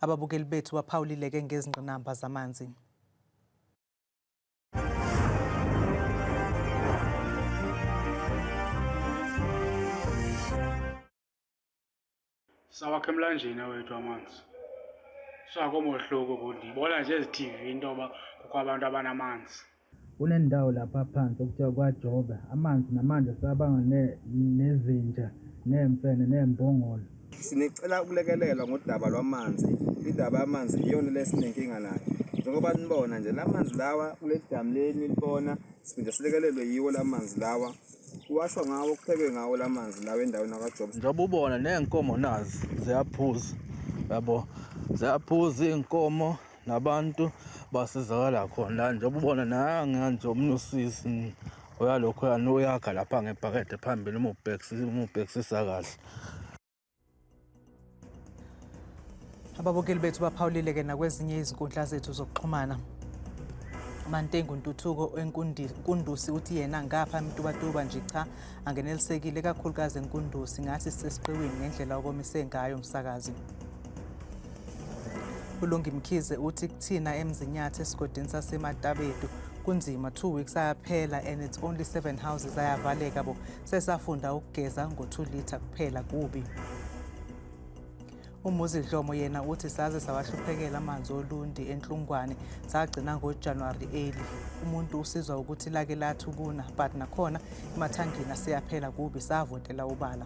Ababukeli bethu baphawulileke ngezingqinamba zamanzi. sawakhe emlanjeni awethu amanzi sakomohluko kundi ibona nje ezithivini into yoba kukho abantu abanamanzi Kunendawo lapha phansi okuthiwa kwaJobe, amanzi namanje sabanga nezinja neemfene neembongolo. Sinicela ukulekelelwa ngodaba lwamanzi. Indaba yamanzi iyona lesinenkinga nayo. Njengoba nibona nje la manzi lawa kule damu leli nilibona siphinde silekelelwe yiwo la manzi lawa kuwashwa ngawo kuphekwe ngawo la manzi lawa endaweni akajoba njengoba ubona ney'nkomo nazi ziyaphuza yabo ziyaphuza iy'nkomo nabantu basizakala khona njengoba ubona nange nje omunye usisi uyalokho yani uyakha lapha ngebhakede phambili umubhekisisa kahle ababukeli bethu baphawulile ke nakwezinye izinkundla zethu zokuxhumana Mantengu Ntuthuko wenkundusi uthi yena ngapha mtubatuba nje cha angenelisekile kakhulukazi enkundusi ngathi sesiqiwini ngendlela okomise ngayo umsakazi ulungi mkhize uthi kuthina emzinyathi esigodini sasematabedu kunzima two weeks ayaphela and it's only seven houses ayavaleka bo sesafunda ukugeza ngo-two litre kuphela kubi umuzi dlomo yena uthi saze sawahluphekela amanzi olundi enhlungwane sagcina ngojanuwari 8 umuntu usizwa ukuthi lake lathi ukuna but nakhona emathangini asiyaphela kubi savotela ubala